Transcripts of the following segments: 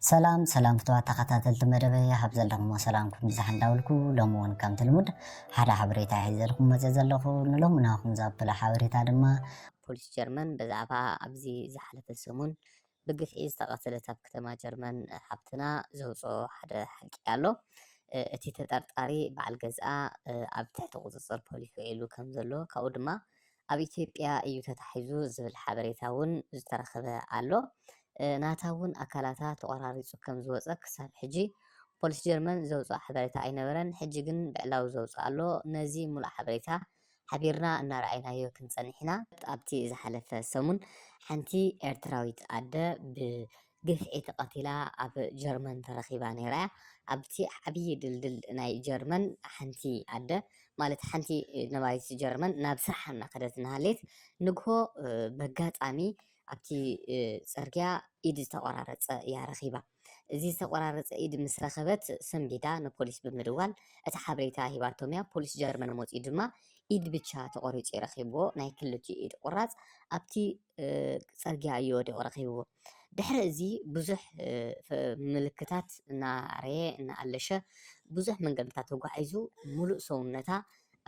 ሰላም ሰላም ፍትዋት ተኸታተልቲ መደበይ ኣብ ዘለኹሞ ሰላምኩም ይብዛሕ እንዳበልኩ ሎሚ እውን ከምቲ ልሙድ ሓደ ሓበሬታ ሒዘ ኢልኩም መፅእ ዘለኹ ንሎሚ ናኹም ዘብለ ሓበሬታ ድማ ፖሊስ ጀርመን ብዛዕባ ኣብዚ ዝሓለፈ ሰሙን ብግፍዒ ዝተቐተለት ኣብ ከተማ ጀርመን ሓብትና ዘውፅኦ ሓደ ሓቂ ኣሎ። እቲ ተጠርጣሪ በዓል ገዝኣ ኣብ ትሕቲ ቁፅፅር ፖሊስ ውዒሉ ከም ዘሎ ካብኡ ድማ ኣብ ኢትዮጵያ እዩ ተታሒዙ ዝብል ሓበሬታ እውን ዝተረኸበ ኣሎ። ናታ እውን ኣካላታ ተቖራሪፁ ከም ዝወፀ ክሳብ ሕጂ ፖሊስ ጀርመን ዘውፅኦ ሓበሬታ ኣይነበረን። ሕጂ ግን ብዕላዊ ዘውፅኦ ኣሎ። ነዚ ሙሉእ ሓበሬታ ሓቢርና እናረኣይናዮ ክንፀንሕ ኢና። ኣብቲ ዝሓለፈ ሰሙን ሓንቲ ኤርትራዊት ኣደ ብ ግፍዒ ተቐቲላ ኣብ ጀርመን ተረኺባ ነይራ እያ። ኣብቲ ዓብዪ ድልድል ናይ ጀርመን ሓንቲ ኣደ ማለት ሓንቲ ነባሪት ጀርመን ናብ ስርሓ እናኸደት እናሃለየት ንግሆ በጋጣሚ ኣብቲ ፅርግያ ኢድ ዝተቆራረፀ እያ ረኺባ። እዚ ዝተቆራረፀ ኢድ ምስ ረኸበት ሰንቢዳ ንፖሊስ ብምድዋል እቲ ሓበሬታ ሂባቶም እያ። ፖሊስ ጀርመን መፂኡ ድማ ኢድ ብቻ ተቆሪፁ ረኺብዎ ናይ ክልቲኡ ኢድ ቁራፅ ኣብቲ ፅርግያ እዩ ወዲቁ ረኪብዎ ድሕሪ እዚ ብዙሕ ምልክታት እናርኣየ እናኣለሸ ብዙሕ መንገድታት ተጓዒዙ ሙሉእ ሰውነታ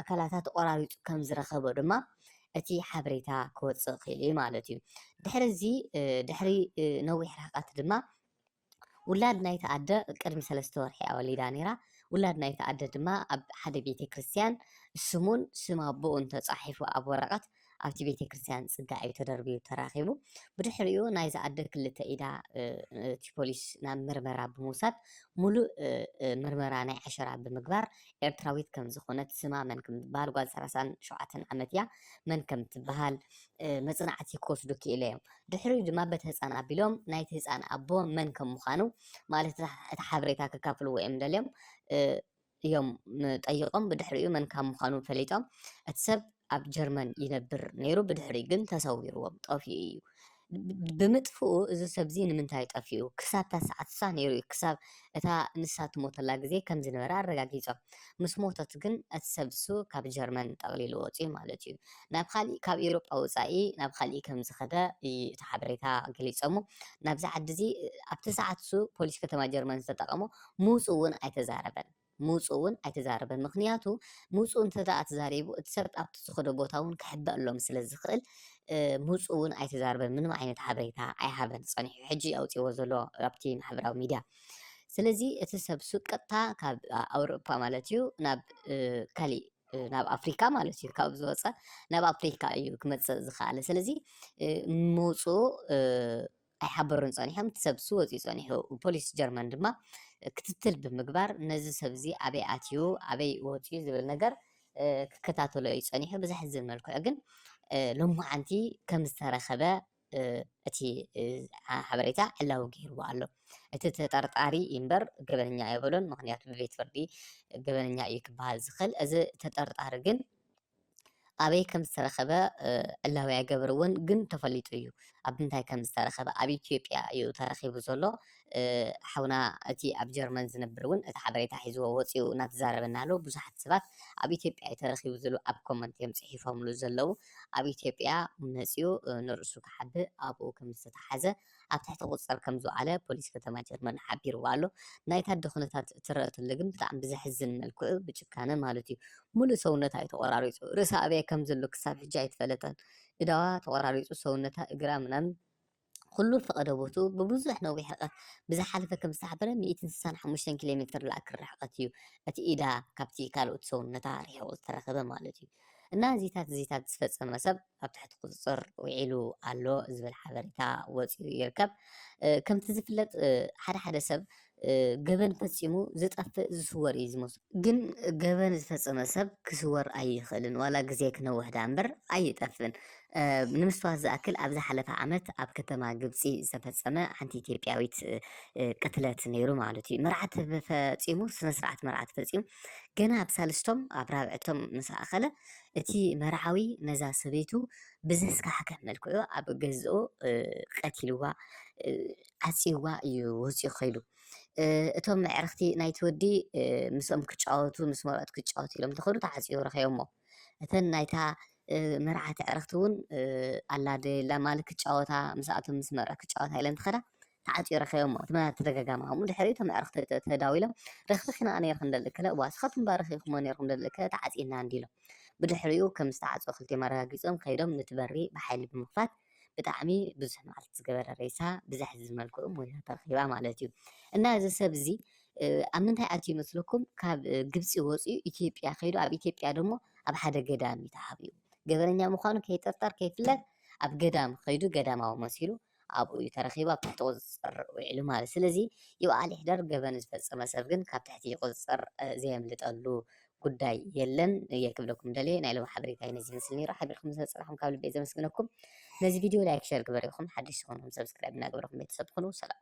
ኣካላታ ተቆራሪፁ ከም ዝረከቦ ድማ እቲ ሓበሬታ ክወፅእ ክኢሉ እዩ ማለት እዩ። ድሕሪ እዚ ድሕሪ ነዊሕ ርሕቀት ድማ ውላድ ናይታ ኣደ ቅድሚ ሰለስተ ወርሒ እያ ወሊዳ ነይራ። ውላድ ናይታ ኣደ ድማ ኣብ ሓደ ቤተክርስትያን ስሙን ስም ኣቦኡን ተጻሒፉ ኣብ ወረቐት ኣብቲ ቤተክርስትያን ጽጋ እዩ ተደርብዩ ተራኺቡ። ብድሕሪኡ ናይዛ ኣደ ክልተ ኢዳ እቲ ፖሊስ ናብ ምርመራ ብምውሳድ ሙሉእ ምርመራ ናይ ዓሸራ ብምግባር ኤርትራዊት ከም ዝኾነት ስማ መን ከም ትበሃል ጓል ሰላሳን ሸውዓተን ዓመት እያ መን ከም ትበሃል መጽናዕቲ ክወስዱ ክኢለ እዮም። ድሕሪኡ ድማ በቲ ህጻን ኣቢሎም ናይቲ ህጻን ኣቦ መን ከም ምዃኑ ማለት እቲ ሓበሬታ ከካፍልዎ እዮም ደልዮም እዮም ጠይቆም ብድሕሪኡ መን ካብ ምዃኑ ፈሊጦም እቲ ሰብ ኣብ ጀርመን ይነብር ነይሩ ብድሕሪ ግን ተሰዊርዎም ጠፍኡ እዩ ብምጥፍኡ እዚ ሰብዚ ንምንታይ ጠፍኡ ክሳብ ታሰዓት ሳ ነይሩ እዩ ክሳብ እታ ንሳ ትሞተላ ግዜ ከም ዝነበረ ኣረጋጊጾም። ምስ ሞተት ግን እቲ ሰብ እሱ ካብ ጀርመን ጠቕሊሉ ወጺኡ ማለት እዩ። ናብ ኻሊእ ካብ ኢሮጳ ወጻኢ ናብ ኻሊእ ከም ዝኸደ እዩ እቲ ሓበሬታ ገሊጹ እሞ ናብዚ ዓዲ እዚ ኣብቲ ሰዓት እሱ ፖሊስ ከተማ ጀርመን ዝተጠቐሞ ምውጽኡ እውን ኣይተዛረበን ምውጽኡ እውን ኣይተዛረበን ምኽንያቱ ምውጽኡ እንተድኣ ተዛሪቡ እቲ ሰብ ኣብቲ ዝኸዶ ቦታ እውን ክሕበእሎም ስለ ዝኽእል ምውጽኡ እውን ኣይተዛረበን ምንም ዓይነት ሓበሬታ ኣይሃበን ጸኒሑ ሕጂ ኣውጺእዎ ዘሎ ኣብቲ ማሕበራዊ ሚድያ ስለዚ እቲ ሰብ እሱ ቀጥታ ካብ ኣውሮፓ ማለት እዩ ናብ ካሊእ ናብ ኣፍሪካ ማለት እዩ ካብ ዝወፀ ናብ ኣፍሪካ እዩ ክመፅእ ዝኸኣለ ስለዚ መውፅኡ ኣይሓበሩን ጸኒሖም፣ እቲ ሰብ'ሱ ወጺኡ ጸኒሑ። ፖሊስ ጀርመን ድማ ክትትል ብምግባር ነዚ ሰብ'ዚ ኣበይ ኣትዩ ኣበይ ወጺኡ ዝብል ነገር ክከታተሎ እዩ ጸኒሑ። ብዘሕዝን መልክዑ ግን ሎማዓንቲ ከም ዝተረኸበ እቲ ሓበሬታ ዕላዊ ገይርዎ ኣሎ። እቲ ተጠርጣሪ እምበር ገበነኛ ኣይበሎን፣ ምኽንያቱ ብቤት ፍርዲ ገበነኛ እዩ ክበሃል ዝኽእል። እዚ ተጠርጣሪ ግን ኣበይ ከም ዝተረኸበ ዕላዊ ኣይገበርዎን ግን ተፈሊጡ እዩ ኣብ ምንታይ ከም ዝተረኸበ ኣብ ኢትዮጵያ እዩ ተረኺቡ ዘሎ ሓውና እቲ ኣብ ጀርመን ዝነብር እውን እቲ ሓበሬታ ሒዝዎ ወፂኡ እናተዛረበና ኣሎ ብዙሓት ሰባት ኣብ ኢትዮጵያ እዩ ተረኺቡ ዝብሉ ኣብ ኮመንት እዮም ፅሒፎምሉ ዘለዉ ኣብ ኢትዮጵያ መፂኡ ንርእሱ ክሓብእ ኣብኡ ከም ዝተተሓዘ ኣብ ትሕቲ ቁፅፅር ከምዝወዓለ ፖሊስ ከተማ ጀርመን ሓቢርዎ ኣሎ። ናይታ ኣደ ኩነታት እትረኣ ተሎ ግን ብጣዕሚ ብዘሕዝን መልክዑ ብጭካነ ማለት እዩ ሙሉእ ሰውነታ እዩ ተቆራሪፁ ርእሳ ኣበይ ከምዘሎ ክሳብ ሕጂ ኣይተፈለጠን እዳዋ ተቆራሪፁ ሰውነታ እግራ ምናምን ኩሉ ፈቐዶ ቦትኡ ብብዙሕ ነዊሕ ርቀት ብዝሓለፈ ከምዝተሓበረ ሚእትን ስሳን ሓሙሽተን ኪሎ ሜትር ዝኣክል ርሕቀት እዩ እቲ ኢዳ ካብቲ ካልኦት ሰውነታ ርሒቑ ዝተረኸበ ማለት እዩ እና እዚታት እዚታት ዝፈፀመ ሰብ ኣብ ትሕቲ ቁፅፅር ውዒሉ ኣሎ ዝብል ሓበሬታ ወፂኡ ይርከብ። ከምቲ ዝፍለጥ ሓደ ሓደ ሰብ ገበን ፈፂሙ ዝጠፍእ ዝስወር እዩ ዝመስሉ ግን ገበን ዝፈፀመ ሰብ ክስወር ኣይኽእልን ዋላ ግዜ ክነውሕ ድኣ እምበር ኣይጠፍእን። ንምስትዋት ዝኣክል ኣብ ዝሓለፈ ዓመት ኣብ ከተማ ግብፂ ዝተፈፀመ ሓንቲ ኢትዮጵያዊት ቅትለት ነይሩ ማለት እዩ። መርዓት ፈፂሙ ስነ ስርዓት መርዓት ፈፂሙ ገና ኣብ ሳልስቶም ኣብ ራብዕቶም ምስ ኣኸለ እቲ መርዓዊ ነዛ ሰበይቱ ብዘስካሕክሕ መልክዑ ኣብ ገዝኡ ቀቲልዋ ዓጽይዋ እዩ ወጺኡ ከይዱ። እቶም ኣዕርኽቲ ናይቲ ወዲ ምስኦም ክጫወቱ ምስ መርዑት ክጫወቱ ኢሎም እንተኸዱ ተዓጽዩ ረኺቦሞ። እተን ናይታ መርዓት ኣዕርኽቲ እውን ኣላደላ ማለት ክጫወታ ምስኣቶም ምስ መርዑት ክጫወታ ኢለን ተኸዳ ተዓጽዩ ረኺቦሞ እቲ መ ተደጋጋሚ ከምኡ ድሕሪኡ እቶም ኣዕርኽቲ ተ ተዳዊሎም ረኺኺና ነይሩ ክንደሊ ከለ እዋ ንስኻትኩምባ ረኺብኩሞ ነይርኩም ደሊ ከ ተዓጺና እንዲ ኢሎም ብድሕሪኡ ከም ዝተዓጽወ ክልቲኦም ኣረጋጊጾም ከይዶም ነቲ በሪ ብሓይሊ ብምኽፋት ብጣዕሚ ብዙሕ መዓልቲ ዝገበረ ሬሳ ብዘሕዝን መልክዑ ሞይታ ተረኺባ ማለት እዩ እና እዚ ሰብ እዚ ኣብ ምንታይ ኣትዩ ይመስለኩም ካብ ግብፂ ወፅኡ ኢትዮጵያ ከይዱ ኣብ ኢትዮጵያ ደሞ ኣብ ሓደ ገዳም እዩ ተሓቢኡ ገበረኛ ምዃኑ ከይጥርጠር ከይፍለጥ ኣብ ገዳም ከይዱ ገዳማዊ መሲሉ ኣብኡ እዩ ተረኺቡ ኣብ ትሕቲ ቁፅፅር ውዒሉ ማለት እዩ። ስለዚ ይብኣል ይሕደር ገበን ዝፈፀመ ሰብ ግን ካብ ትሕቲ ቁፅፅር ዘየምልጠሉ ጉዳይ የለን እየ ክብለኩም ደልየ። ናይ ሎሚ ሓበሬታ ነዚ ይመስል ነይሩ። ሓቢርኩም ስለዝፀናሕኩም ካብ ልበይ ዘመስግነኩም። ነዚ ቪድዮ ላይክ ሸር ግበር ኢኹም ሓድሽ ዝኾንኩም ሰብስክራይብ እናገበርኩም ቤተሰብ ትኹኑ። ሰላም